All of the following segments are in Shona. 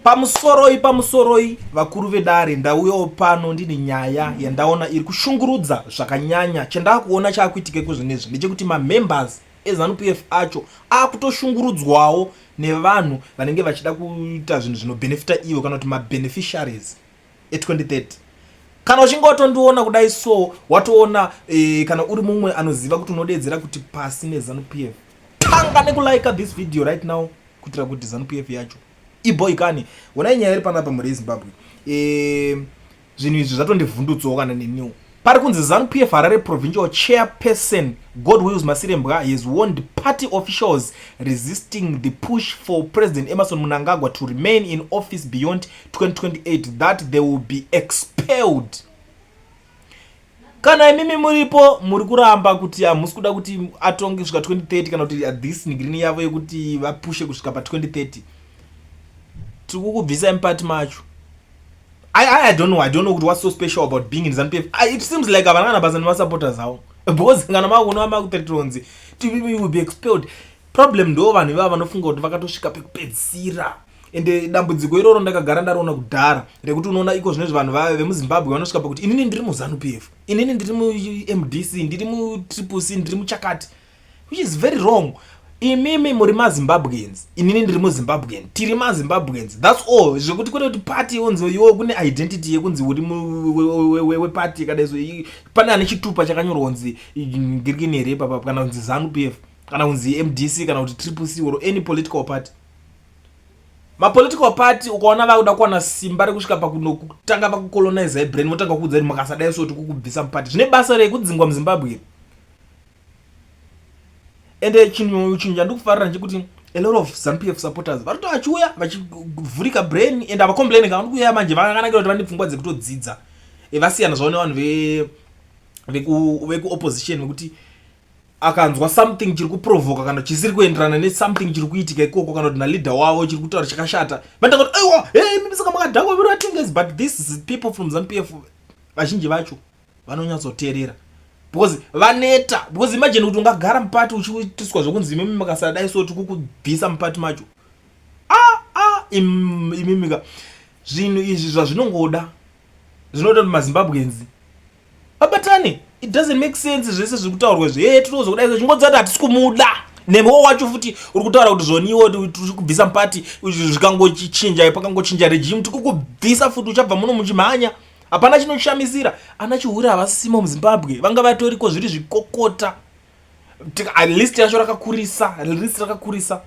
Pamusoroi pamusoroi vakuru vedare ndauyawo pano ndine nyaya yandaona iri kushungurudza zvakanyanya chandakuona chaakuitika kwezvinezvi ndechekuti mamembers ezanup f acho akutoshungurudzwawo nevanhu vanenge vachida kuita zvinhu zvinobhenefita ivo kana kuti mabeneficiaries e2030 kana uchinge watondiona kudai so watoona e, kana uri mumwe anoziva kuti unodeedzera kuti pasi nezanup f tanga nekulaika this video right now kuitira kuti zanup f yacho Iboy kani, wonai nyaya iri panapa mhuri yeZimbabwe. Eh, zvinhu izvi zvatondivhundutsawo kana neniwo. Pari kunzi Zanu PF Harare Provincial Chairperson God Wills Masirembwa has warned party officials resisting the push for President Emerson Mnangagwa to remain in office beyond 2028 that they will be expelled. kana imimi muripo muri kuramba kuti hamusi kuda kuti atonge kusvika 2030 kana kuti this nigrini yavo yekuti vapushe kusvika pa 2030 tikukubvisai mupati macho I, I, I don't know. I don't know what's so special about being in ZANPF. I, it seems like havana kana basa nemasupporters avo because kana makuona makutetonzi tv will be expelled problem ndo vanhu ivava vanofunga kuti vakatosvika pekupedzisira ende dambudziko iroro ndakagara ndariona kudhara rekuti unoona iko zvinezvi vanhu vave vemuzimbabwe vanosvika pakuti inini ndiri muzanu p f inini ndiri mumdc ndiri mutriple c ndiri muchakati which is very wrong imimi muri mazimbabweans inini ndiri muzimbabwean tiri mazimbabweans thats all zvekuti kwete kuti party yonzi iwo kune identity yekunzi uri weparty kadaiso pane ane chitupa chakanyorwa kunzi ngirikini here ipapa kana kunzi zanu p f kana kunzi mdc kana kuti triple c or any political party mapolitical party ukaona vakuda kuwana simba rekusvika pakutanga pakucolonize ibrain votanga kuudza kuti makasadai so tikukubvisa mupati zvine basa rei kudzingwa muzimbabwe iri ende chinhu chinhu chandikufarira ndechekuti a lot of zanupf supporters varito vachiuya vachivhurika brain and havacomplaini kavani kuuya manje vakanakira kuti vane pfungwa dzekutodzidza e, vasiyana zvavo nevanhu vekuopposition vekuti akanzwa something chiri kuprovoka kana chisiri kuenderana nesomething chiri kuitika ikoko kana kuti naleader wavo chiri kutaura chakashata vatanga kuti aiwa hey, mimi saka makadhakwa viro atinges but this is people from zampf vazhinji vacho vanonyatsoteerera because vaneta because imagine kuti ungagara mupati uchiitiswa zvekunzi imimi makasadai so tikukubvisa mupati macho a ah, a ah, imimika zvinhu izvi zvazvinongoda zvinoda kuti mazimbabwenzi Babatani, it doesn't make sense zvese zviri kutaurwa izvi. Hey, tinozo kudai izvo chingodza kuti hatisi kumuda. Nemewo wacho futi uri kutaura kuti zvoniwo tiri kubvisa mupati zvikangochinja pakangochinja regime tiri kubvisa futi uchabva muno muchimhanya. Hapana chinoshamisira. Ana Chihure havasimo muZimbabwe. Vanga vatoriko zviri zvikokota. At least yacho rakakurisa, at least rakakurisa.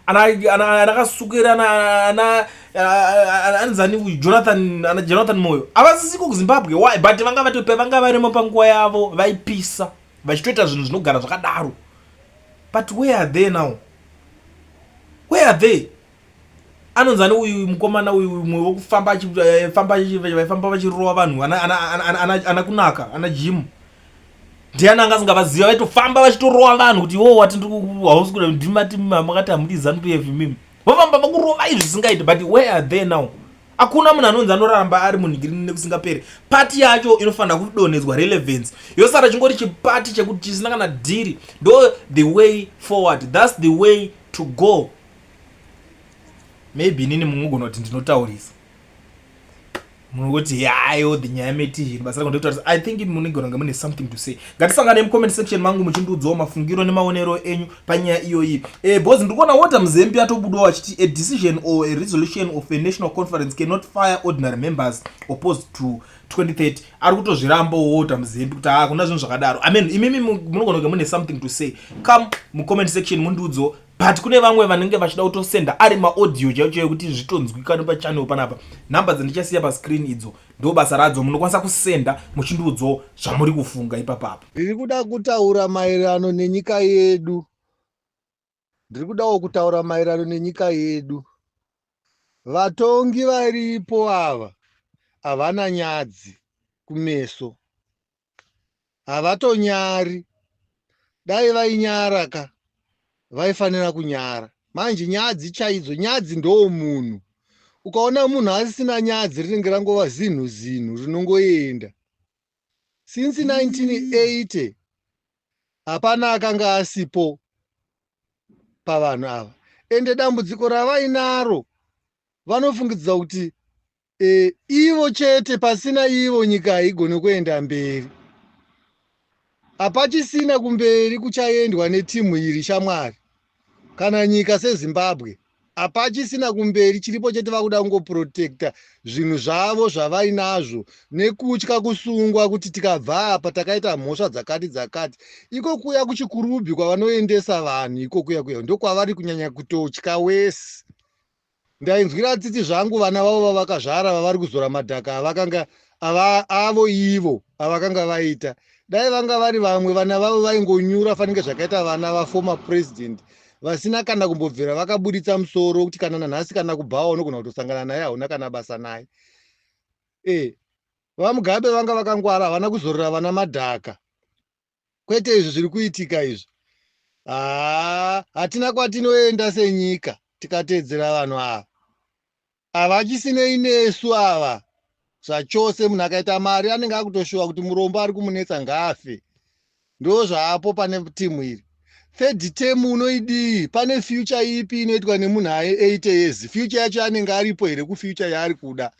ana ana ana kasukera ana ana anzani uyu jonathan ana jonathan moyo avasisiko kuzimbabwe why but vanga vatope vanga varimo panguva yavo vaipisa vachitoita zvinhu zvinogara zvakadaro but where are they now where are they anonzani uyu mukomana uyu umwe wokufamba achifamba eh, vaifamba vachirova vanhu ana kunaka ana jimu ndiani anga asingavaziva vaitofamba vachitorova vanhu kuti iwo wati hausi kuda ndimati makati hamudi zanup f mimi vofamba vakurovai zvisingaiti but where are they now hakuna munhu anonzi anoramba ari munhingiriri nekusingaperi pati yacho inofanira kudonhedzwa relevance yosara chingori chipati chekuti chisina kana dhiri ndo the way forward thats the way to go maybe inini mumwe ugona kuti ndinotaurisa munoti yayo the nyaya meti zvinhu basa rako ndekutaurisa i think munigona kunge mune something to say ngatisangane mucomment section mangu muchindiudzawo mafungiro nemaonero enyu panyaya iyoyi e, bhozi ndiri kuona wota muzembi atobudawo achiti a decision or a resolution of a national conference cannot fire ordinary members opposed to 2030 ari kutozviramba wota muzembi kuti hakuna ah, zvinhu zvakadaro i mean imimi munogona kunge mune something to say come mucomment section mundiudzawo but kune vamwe vanenge vachida kutosenda ari maaudio chaicho yekuti zvitonzwikane pachannel panapa number dzandichasiya pascreen idzo ndo basa radzo munokwanisa kusenda muchindiudzawo zvamuri kufunga ipapapa ndiri kuda kutaura maererano nenyika yedu ndiri kudawo kutaura maererano nenyika yedu vatongi varipo ava havana nyadzi kumeso havatonyari dai vainyara ka vaifanira kunyara manje nyadzi chaidzo nyadzi ndoo munhu ukaona munhu asisina nyadzi rinenge rangova zinhu zinhu rinongoenda since 1980 hapana akanga asipo pavanhu ava ende dambudziko ravainaro vanofungidzira kuti e, ivo chete pasina ivo nyika haigone kuenda mberi hapachisina kumberi kuchaendwa netimu iri shamwari kana nyika sezimbabwe hapachisina kumberi chiripo chete vakuda kungoprotecta zvinhu zvavo zvavainazvo nekutya kusungwa kuti tikabva apa takaita mhosva dzakati dzakati iko kuya kuchikurubhi kwavanoendesa vanhu iko kuya kuya ndokwavari kunyanya kutotya wese Ndainzwira tsitsi zvangu vana vavo vavakazvara vavari kuzora madhaka avakanga ava avo ivo avakanga vaita. Dai vanga vari vamwe vana vavo vaingonyura fanike zvakaita vana vaformer president vasina kana kumbobvira vakabuditsa musoro wekuti kana nanhasi kana kubhawa unogona kutosangana naye hauna kana basa naye. Eh, VaMugabe vanga vakangwara havana kuzorera vana madhaka. kwete izvi zviri kuitika izvi haa hatina kwatinoenda senyika tikateedzera vanhu ava havachisinei nesu ava zvachose munhu akaita mari anenge akutoshuva kuti murombo ari kumunetsa ngaafe ndo zvaapo pane timu iri third term unoidii pane future ipi inoitwa nemunhu aye 8 years future yacho anenge aripo here kufuture yaari kuda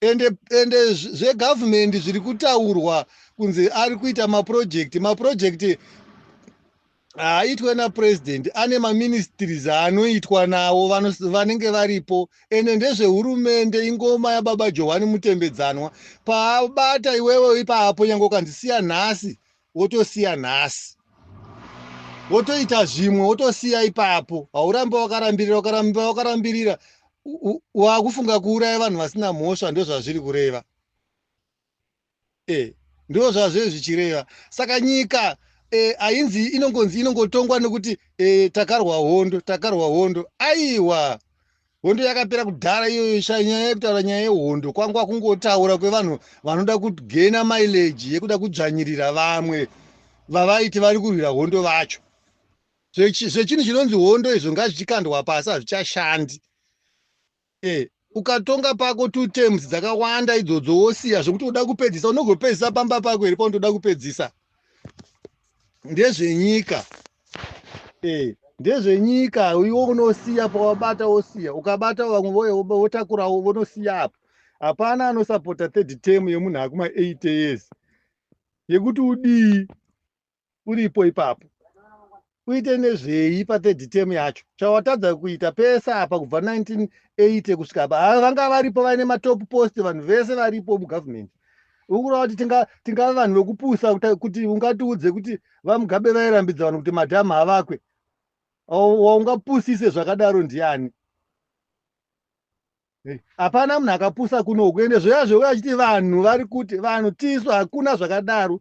ende ende zvegovernment zviri kutaurwa kunzi ari kuita maproject maproject haaitwe napresident ane maministries aanoitwa nawo vanenge varipo ende ndezvehurumende ingoma yababa johani mutembedzanwa paabata iwewe ipaapo nyange ukandisiya nhasi wotosiya nhasi wotoita zvimwe wotosiya ipapo hauramba wakarambirira ukaramba wakarambirira wakufunga kuuraya vanhu vasina mhosva ndozvazviri kureva e ndo zvazve zvichireva saka nyika e, ainzi e, inongonzi inongotongwa nekuti e, takarwa hondo takarwa hondo aiwa hondo yakapera kudhara iyoyo sha nyaya yekutaura nyaya yehondo kwangwa kungotaura kwevanhu vanoda kugena mileji yekuda kudzvanyirira vamwe vavaiti vari kurwira hondo vacho zvechinhu chinonzi hondo izvo ngazvichikandwa pasi hazvichashandi e, ukatonga pako two terms dzakawanda idzodzo wosiya zvekuti uda kupedzisa unogopedzisa pamba pako here paunotoda kupedzisa ndezvenyika eh ndezvenyika iwe unosiya pawabata wosiya ukabata vamwe voye votakurawo vonosiya apo hapana anosapota third term yemunhu akuma eight years yekuti udii uripo ipapo uite nezvei pathird term yacho chawatadza kuita pese apa kubva 1980 kusvika apa vanga varipo vaine matop post vanhu vese varipo mugovernment ukureva kuti tingava vanhu vekupusa kuti ungatiudze kuti vamugabe vairambidza vanhu kuti madhamu havakwe waungapusise zvakadaro ndiani hapana munhu akapusa kunoku ende zvoya zvouya achiti vanhu vari kuti vanhu tisu hakuna zvakadaro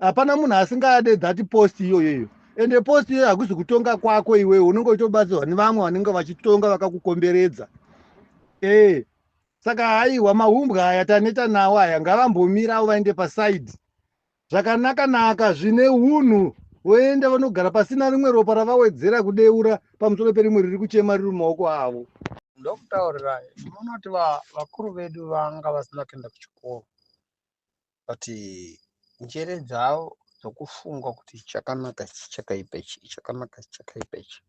hapana munhu asingade that post iyoyo iyo ende post iyoyo hakuzi kutonga kwako iwewe unenge uchitobatsirwa nevamwe vanenge vachitonga vakakukomberedza ee eh. Saka haiwa mahumbwa aya taneta nawo aya ngavambomirawo vaende paside zvakanaka naka zvine unhu voenda vanogara pasina rimwe ropa ravawedzera kudeura pamusoro perimwe riri kuchema riri mumaoko avo ndokutaurirai munoti vakuru vedu vanga vasina kuenda kuchikoro but njere dzavo dzokufunga kuti chakanaka ichi chakaipa ichi chakanaka ichi chakaipa ichi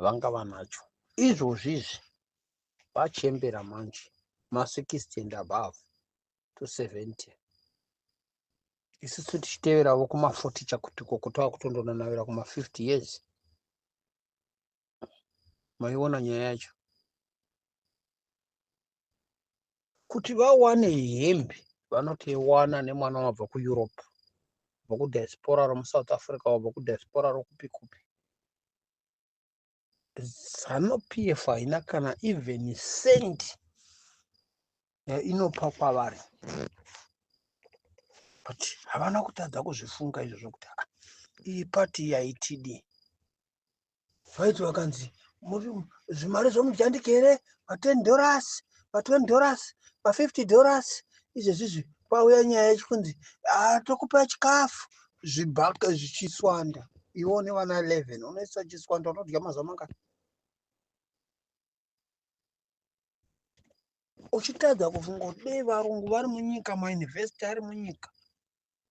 vanga vanacho izvozvi izvi vachembera manje ma 60 and above to 70 isusu tichiteveravo kuma 40 chakutiko kutava kutondonanavira kuma 50 years maiona nyaya yacho kuti vawane hembe vanoti wana nemwana wabva kueurope bva kudiaspora romusouth africa wabva kudiaspora rokupi kupi Zanu PF haina kana even cent yainopa kwavari but havana kutadza kuzvifunga izvo zvokuti ah, iyi pati yaitidi vaiti vakanzi zvimari zvomujandiki here maten dollars matwen dollars mafifty dollars izvezvizvi kwauya nyaya yechikunzi ah, tokupa chikafu zvibhaka zvichiswanda iwe une vana 11 unoisa chiswanda unodya mazuva mangani uchitadza kufunga kuti dei varungu vari munyika mayunivhesiti ari munyika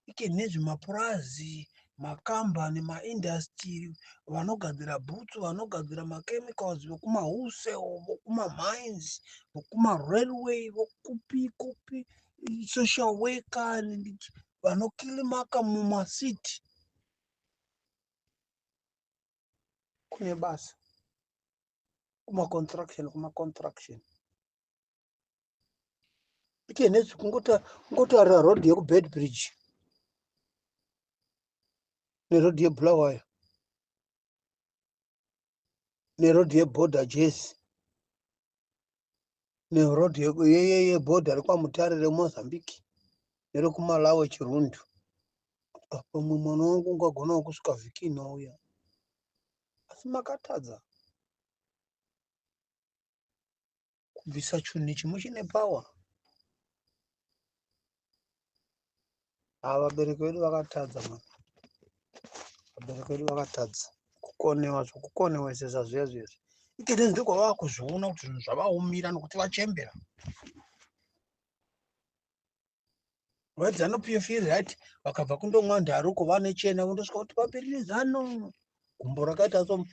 ike nezvemapurazi makambani maindastiri vanogadzira bhutsu vanogadzira machemicals vekumahuse vokumamines vokumarailway vokupi kupi social worker vanokilimaka mumasiti kune basa kumaconstruction kumaconstruction ite nezvi kungotarira road yekubed bridge neroad yebulawayo neroad yeborder jesi neroad yeborder rekwamutare remozambique nerekumalawo chirundu pamwe mwana wangu ungagonawo kusvika vhiki inouya asi makatadza kubvisa chunhu nechimwe chine power ava ah, vabereki vedu vakatadza mwana vabereki vedu vakatadza kukonewa zvokukonewesesa zviya zviya zvi ikete ndiri kwavava kuzviona kuti zvinhu zvavaomira nokuti vachembera What's Zanu PF feel right? Vakabva kundomwa ndaroko vanechena vondosvika kuti papirire Zanu. Gumbo rakaita so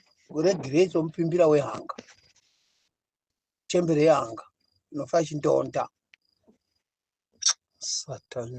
regirei somupimbira wehanga. Chembere yehanga inofa ichindonda. Satani.